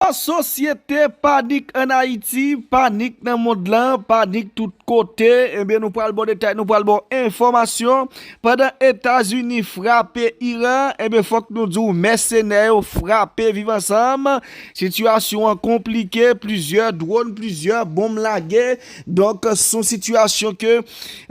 An sosyete, panik an Ayiti, panik nan mond lan, panik tout kote, ebyen nou pral baw detay, nou pral baw enfòmasyon, pandan Etazini frape Iran, ebyen fòk nou diw mèsenè yo frape viv ansanm, sitiyasyon an konplike, plizyè dronn, plizyè bonm lage, Donk son sitiyasyon ke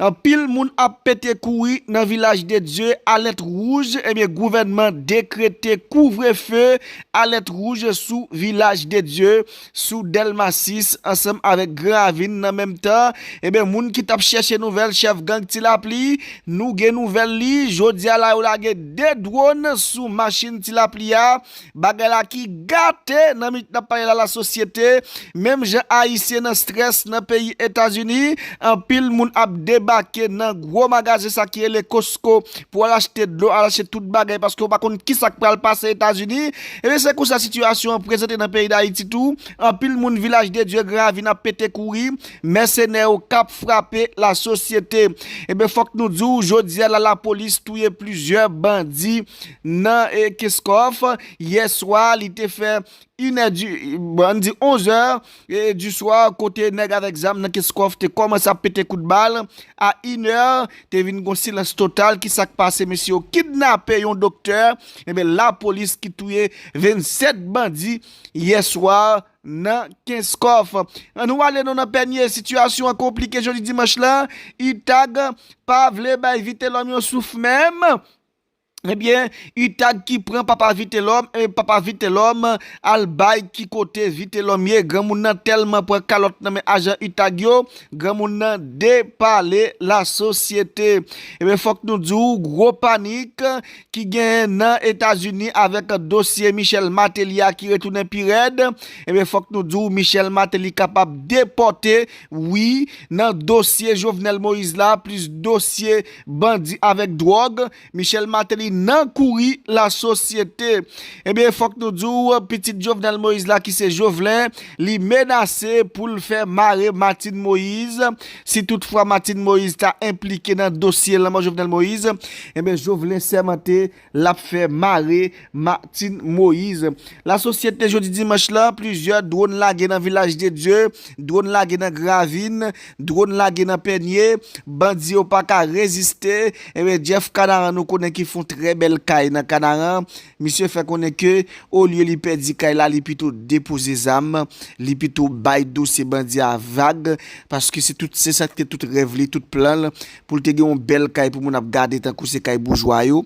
anpil moun ap pete kouri nan vilaj de Dye alèt wouj ebyen gouvènman dekrete kouvrefe alèt wouj sou vilaj de Dye sou dèlma 6 ansanm avèk gran ravin nan menm tan ebyen moun ki tap chèche nouvèl chèf gang ti lapli nou gen nouvèl li jodi a la yo lage 2 dwòn sou machin ti lapli a Bagay la ki gate nan minit nap pale la la sosyete menm jan ayisyen nan strès nan peyi etazini anpil moun ap debake nan gwo magazen sa ki rele costco pou al achte dlo al achte tout bagay paske ou pa konn kisak pral pase etazini ebyen se konsa sitiyasyon an prezante nan peyi dayiti tou anpil moun vilaj de dye gran ravin ap pete kouri mèsenè yo kap frape la sosyete ebyen fòk nou diw jodia la lapolis touye plizyè bandi Nan Kenscoff, yè swa li te fè 1 è di, bon ann di 11 è di swa kote nèg avèk zam nan Kenscoff te kòmanse ap pete kout bal. A 1 è, te vin gon silans total, ki sa k pase mesye yo kidnape yon doktè, enben lapolis ki touye 27 bandi yè swa nan Kenscoff. An nou ale nou nan Pènye, sitiyasyon an konplike jodi dimanch la, utag pa vle bay Vitelòm yon souf menm. Ebyen utag ki pran papa vitelòm e papa vitelòm al bay ki kote vitelòm ye granmoun nan tèlman pran kalòt nan men ajan utag yo granmoun nan depale la sosyete ebyen fòk nou di w gwo panik ki genyen nan etazini avèk dosye Michel Martelly a ki retounen pi rèd ebyen fòk nou di w Michel Martelly kapab depòte wi nan dosye Jovenel Moïse la plis dosye Bandi avèk dwòg, Michel Martelly nan kouri la sosyete. Ebyen fòk nou di w, pitit Jovenel Moïse la ki se Jovlè, li menase pou l fè mare Martine Moïse, si tout fwa Martine Moïse ta enplike nan dosye lanmò Jovenel Moïse, ebyen Jovlè sèmante L ap fè mare Martine Moise. La sosyete jodi dimanch la, plizyè dwon lage nan Vilaj de Dye, dwon lage nan Gravin, dwon lage nan Pènye, bandi yo pa ka reziste, enben Jeff Kanaran nou konnen ki fon trè bèl kay nan Kanaran, misye fè konnen ke olye li pèdi kay la li pito depoze zam, li pito bay dosye bandi a vag, paske se tout se sa ki te tout rèv li, tout plan l, pou l te gen yon bèl kay pou moun ap gade tankou se kay boujwa yo.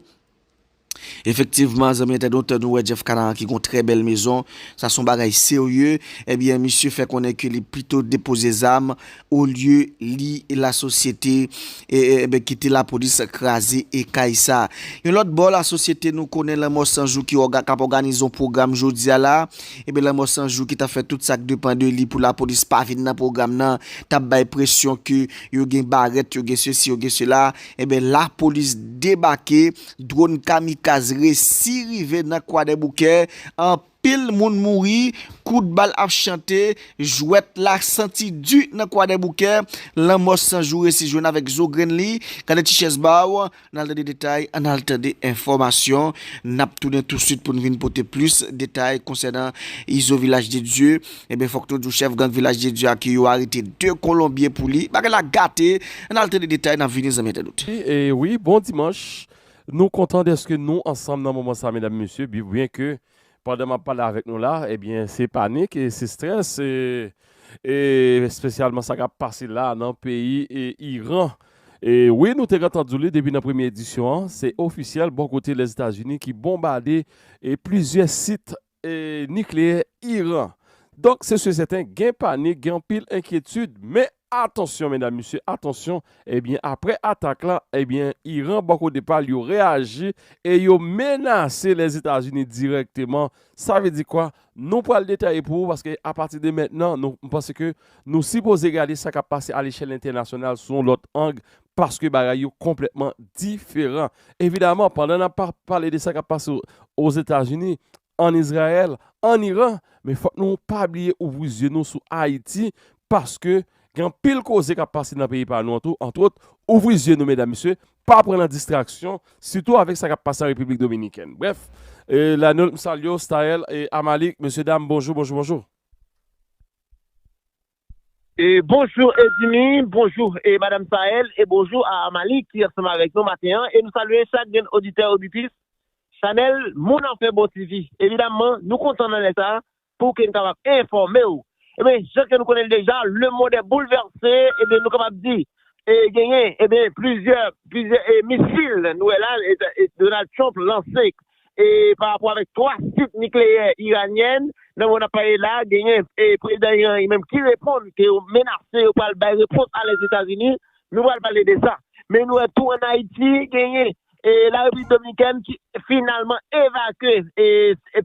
Efektivman, zanmi entèdonte, nou wè Jeff Canaran ki gen yon trè bèl mezon. Sa se yon bagay serye. Ebyen, misye fè konnen ke li pito depoze zam olye li lasosyete e kite lapolis kraze e kay sa. Yon lòt bò, lasosyete nou konnen Lanmò San Jou ki k ap òganize yon pwogram jodi a la. Ebyen, Lanmò San Jou ki t ap fè tout sa k depan de li pou lapolis pa vin nan pwogram nan, t ap bay presyon ke. yo gen barèt, yo gen sesi, yo gen sela, enben lapolis debake, dwòn kamikaz resi rive nan Kwadèboukè, anpil moun mouri, kout bal ap chante, jwèt la santi di nan Kwadèboukè, lanmò san jou resi jwenn avèk zo grenn li, gade ti chèz ba w, N al tande detay, an al tande enfòmasyon. N ap tounen tousuit pou n vin pote plis detay konsènan Izo Vilaj de Dye. Enben, fòk nou di w chèf gang Vilaj de Dye a ke yo arete 2 kolonbyen pou li. Bagay la gate! An al tande detay, n ap vini zanmi entènot. Wi, bon dimanch! Nou kontan dèske nou ansanm nan moman sa medam e mesye, byenke Pandan map pale avèk nou la ebyen se panik e se strès e spesyalman sa kap pase la nan peyi Iran. E wi nou te gentan di w li depi nan premye edisyon an, se ofisyèl bò kote Lèzetazini ki bonbade e plizyè sit e nikleyè Iran. Donk se sè sèten gen panik, gen anpil enkyetid men Atansyon medam mesye atansyon ebyen aprè atak la ebyen Iran bò kote pal yo reyaji e yo menase Lèzetazini dirèkteman sa vle di kwa nou pral detaye pou ou paske apati de mentnan nou m panse ke nou sipoze gade sa kap pase alechèl entènasyonal sou yon lòt ang paske bagay yo konplètman diferan evidaman pandan nap pale de sa kap pase Ozetazini an Izrayèl, an Iran, men fòk nou pa bliye ouvri zye nou sou Ayiti paske gen anpil koze k ap pase nan peyi pa nou an tou, antwòt ouvri zye nou medam mesye, pa pran nan distraksyon, sitou avèk sa k ap pase an Repiblik Dominikèn. Brèf, Lanold m salye w, Staël, Amalik, mesye dam bonjou, bonjou, bonjou. Bonjour Edimy, bonjour e Madame Sael e bonjour a Amalie ki ansanm avèk nou maten an e nou salye chak grenn oditè oditris chanèl Moun an fè bon TV. Evidamman nou kontan nan lè sa pou ke nou kapab enfòme ou. Ebyen jan ke nou konnen l deja le mond est bouleversé ebyen nou kapab di e genyen ebyen plizyè plizyè e misil nou wè la Donald Trump lanse pa rapò avèk 3 sit nikleyè iranyèn nan moman nap pale la genyen prezidan iran li menm ki reponn ke yo menase yo pral bay repons a lèzetazini nou pral pale de sa men nou wè tou an ayiti genyen la repiblik dominikèn ki finalman evakye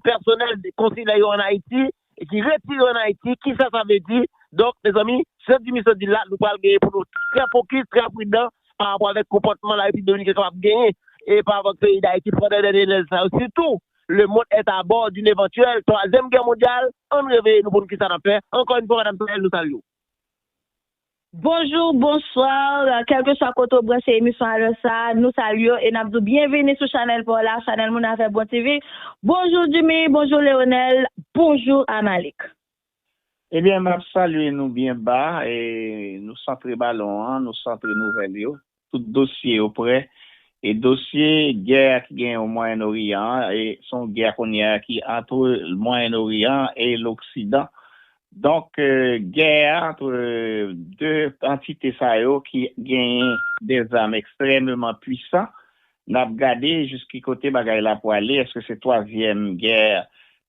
pèsonèl konsilè yo an ayiti. E ki retire an Ayiti, ki sa sa vle di? Donk, mezanmi, Jan di misye di l la, nou pral genyen pou nou trè fokis, trè pridan pa rapò avèk konpòtman La Repiblik Dominiken kapab genyen e pa rapò ak peyi Dayiti pandan dènye lè sa yo sitou lemond èt abò dinn evantyèl twazyèm gè mondyal. Ann reveye nou pou n ki sa n ap fè. Ankò yn fwa, Madam Sorel, nou salye w. Bonjour, bonsoir, kelkeswa kote ou branche emisyon a lè sa a, nou salye w e n ap di w byenvini sou chanèl pa w la, chanèl Moun Afè Bon TV. Bonjou Jimmy, bonjou Leonel, bonjou Amalik. Ebyen, m ap salye nou byen ba e nou santre balon an, nou santre nouvèl yo. Tout dosye yo prè. E dosye gè a ki genyen o Mwayen Oriyan an, e se yon gè kounye a ki antre Mwayen Oriyan an e loksidan. Donk gè a antre 2 antite sa yo ki genyen de zam ekstrèmeman pwisan, n ap gade jis ki kote bagay la pwale, èske se twazyèm gè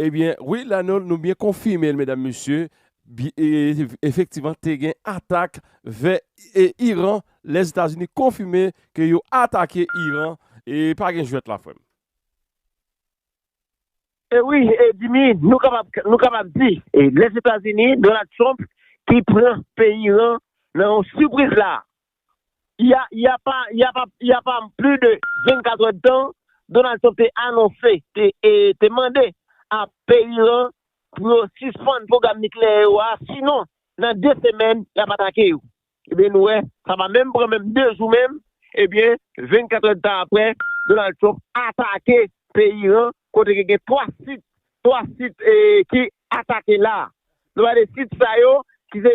Ebyen wi la nou byen konfimel medam mesye efektivan te gen atak vè Iran lèzetazini konfime ke yo atake Iran e pa gen jwèt la frèm. E wi Jimmy nou kapab di lèzetazini Donald Trump ki pran peyi Iran nan yon sipriz la Il y a pas il y a pas il y a pas plus de 24 heures de temps Donald Trump te anonse te te mande a peyi lan pou yo sispann pwogram nikleyè yo a sinon nan 2 semèn y ap atake yo ebyen nou wè sa pa menm pran menm 2 jou menm ebyen 24 heures de temps aprè Donald Trump atake peyi Iran kote ke gen 3 sit 3 sit ki atake la nou pale de sit sa yo ki se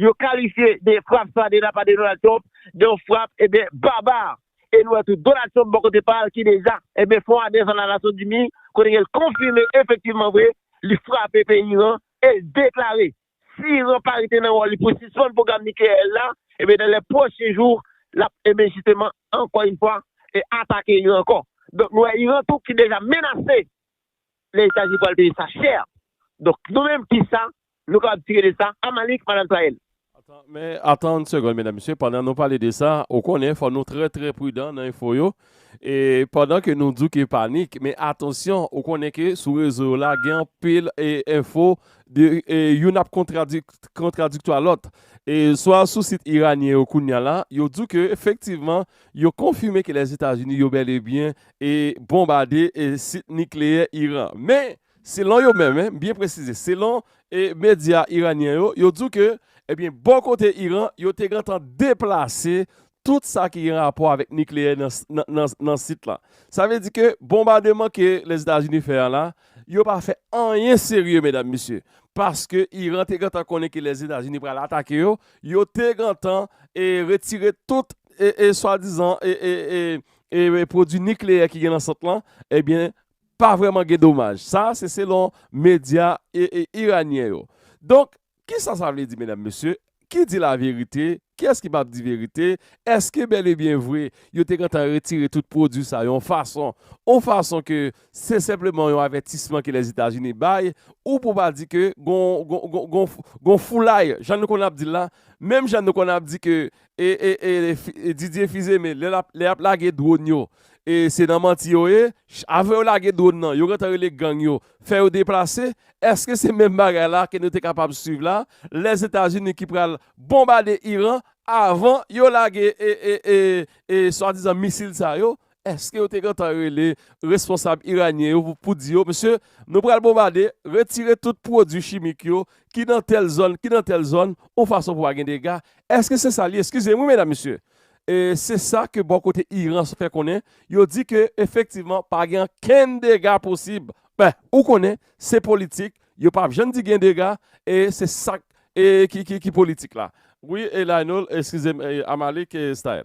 Yo kalifye de frap sa de la pa de Donald Trump de yon frap eben barbar e nou wè tou Donald Trump bò kote pa l ki deja eben fon adrès a la Nasyon Zini kote ke l konfime efektivman vre li frape peyi Iran e l deklare si Iran pa rete nan wòl li pou sispann pwogram nikleyè l la eben dan lè pwochen jou l ap eben jisteman ankò yn fwa e atake Iran ankò donk nou wè Iran tou ki deja menase lè etazini pwal peye sa chè donk nou menm kisa nou kapab tire de sa a malik madam traye l. Atan men atan yn segond medam mesye pandan nou pale de sa ou konnen fò nou trè trè pridan nan enfo yo e pandan ke nou di w ke panik men atansyon ou konnen ke sou rezo yo la gen anpil e enfo de e youn ap kontradi kontradiktwa lòt e swa sou sit iranyen yo kounya la yo di w ke efektivman yo konfime ke lèzetazini yo bèl e byen e bonbade sit nikleyè Iran. Men, selon yo menm, m byen presize, selon medya iranyen yo, yo di w ke, ebyen, bò kote Iran, yo te gentan deplase tout sa ki gen rapò avèk nikleyè nan sit la. Sa vle di ke bonbademan ke Lèzetazini fè an la, yo pa fè anyen serye, medam, mesye, paske Iran te gentan konnen ke Lèzetazini pral atake yo, yo te gentan retire tout swadizan pwodwi nikleyè ki gen nan sant lan ebyen pa vrèman gen domaj. Sa a se selon medya iranyen yo. Donk, kisa sa vle di medam mesye? Ki di laverite? Kiyès ki pap di verite? Eske bèl e byen vre yo te gentan retire tout pwodwi sa yo yon fason yon fason ke se senpleman yon avètisman ke Lèzetazini bay ou pou pa di ke gon gon gon gon foulay jan nou konnen ap di l la menm jan nou konnen ap di ke e Didier Fils-Aimé lè lap lè yap lage drone yo e se nan manti yo ye avan yo lage drone nan yo gentan rele gang yo fè yo deplase eske se menm bagay la ke nou te kapab swiv la Lèzetazini ki pral bonbade Iran avan yo lage e e e swadizan misil sa yo Èske yo te gentan rele responsab iranyen yo pou di yo, mesye, nou pral bonbade, retire tout pwodui chimik yo ki nan tèl zòn, ki nan tèl zòn, yon fason pou pa gen dega? Èske se sa li ye? Eskize m wi medam mesye. E se sa ke bò kote Iran fè konnen, yo di ke efektivman pa gen ankenn dega posib. Ben, ou konnen, se politik, yo pa p jann di gen dega, e se sa k e ki politik la. Wi e Lionel, eskize m e Amalik e Staël.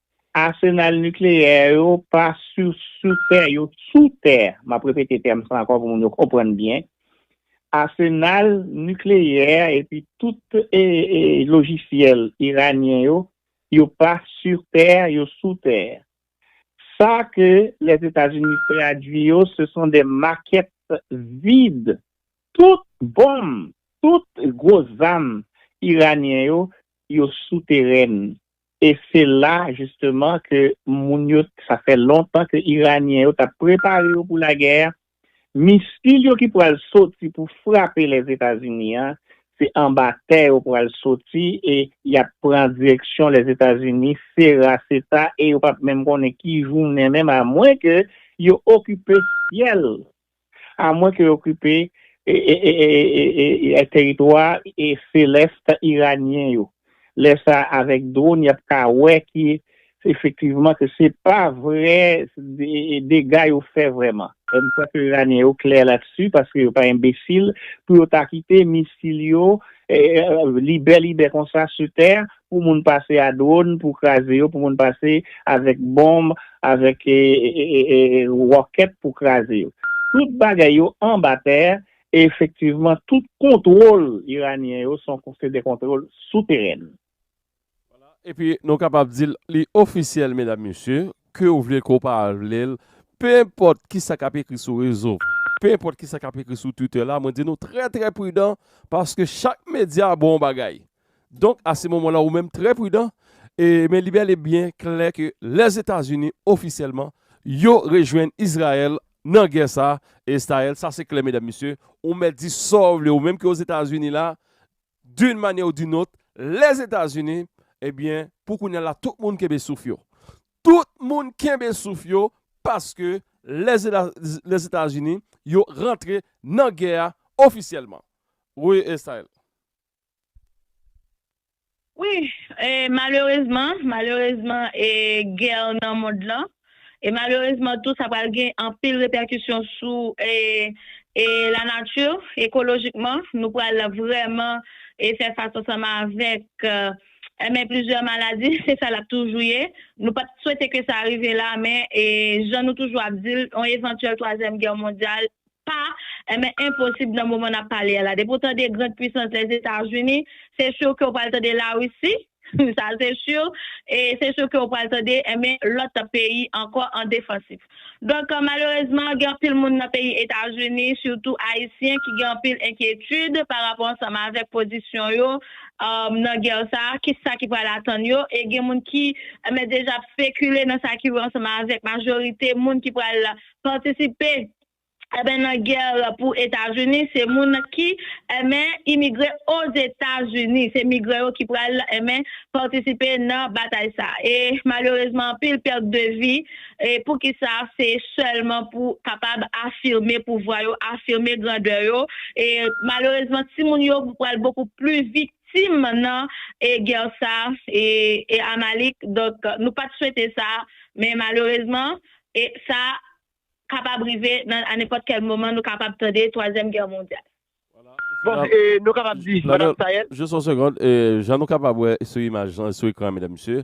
Asenal nikleyè yo pa sou sou tè, yo sou tè. M ap repete tèm sa ankò pou moun yo konprann byen. Asenal nikleyè epi tout e e lojisyèl iranyen yo, yo pa sur terre, yo sou tè. Sa ke Lèzetazini tradui yo, se son de makèt vid. Tout bonm, tout gwo zam iranyen yo, yo sou terèn. E se la jisteman ke moun yo, sa fè lontan ke Iranyen yo tap prepare yo pou lagè a, misil yo ki pral soti pou frape Lèzetazini a, se anba tè yo pral soti e yap pran direksyon Lèzetazini, sera seta e yo pap menm konnen ki jounen menm amwen ke yo okipe syèl A mwen ke yo okipe teritwa selest iranyen yo. Lè sa avèk dron yap ka wè ki efektivman ke se pa vrè dega yo fè vrèman. M kwè ke iranyen yo klè latisu paske yo pa enbesil pou yo ta kite misil yo libelibè konsa su tè pou moun pase a drone pou kraze yo, pou moun pase avèk bonb, avèk ròkèt pou kraze yo. Tout bagay yo anba tè e efektivman tout kontwòl iranyen yo son se de kontwòl souteren. Wala, epi nou kapab di l li ofisyèl medam mesye, ke w vle ke w pa vle l, pe enpòt ki sa k ap ekri sou rezo, pe enpòt ki sa k ap ekri sou Twitter la, mwen di nou trè trè pridan paske chak medya bon bagay. Donk a se moman la ou menm trè pridan, e men li bèl e byen klè ke Lèzetazini ofisyèlman yo rejwenn Izrayèl nan gè sa a, e Iztayèl sa se klè medam mesye, ou mèt di sa w vle ou menm ke Ozetazini la, d'une manière ou d'une autre, Lèzetazini, e byen pou kounya la tout moun kenbe souf yo. Tout moun kenbe souf yo paske Lèzetazini yo rantre nan gè a ofisyèlman. Wi Iztayèl. Wi, e malerezman, malerezman e guerre nan mond lan, e malerezman tou sa pral gen anpil repèkisyon sou e e la nature, ekolojikman, nou pral vrèman e fè fas ansanm avèk e men plizyè maladi, se sa lap toujou ye, nou pat swete ke sa rive la men e jan nou toujou ap dil, yon evantyèl twazyèm guerre mondiale Pa, enben enposib nan moman nap pale a la. Depi w tande grand puissance Lèzetazini, se sûr ke w pral tande Larisi, sa se sûr, e se sûr ke w pral tande, enben lòt peyi ankò an defansif. Donk malerezman gen anpil moun nan peyi Etazini, sitou Ayisyen ki gen anpil enkyetid pa rapò ansanm avèk pozisyon yo nan gè sa a, ki sa ki pral atann yo, e gen moun ki, enben deja ap spekile nan sa ki wè ansanm avèk majorite moun ki pral patisipe Enben nan guerre pou etazini se moun ki enben imigre ozetazini se migran yo ki pral enben patisipe nan batay sa e malerezman anpil perte de vi e poukisa se selman pou kapab afirme pouvwa yo afirme grandeur yo e malerezman ti moun yo pral bokou pli viktim nan e guerre sa e e amalik donk nou pat swete sa men malerezman e sa kapab rive nan a nenpòt kèl moman nou kapab tande twazyèm gè mondyal. Bon e nou kapab di madam Sayèl. Jis yon segond, jan nou kapab wè sou imaj lan sou ekran an medam mesye,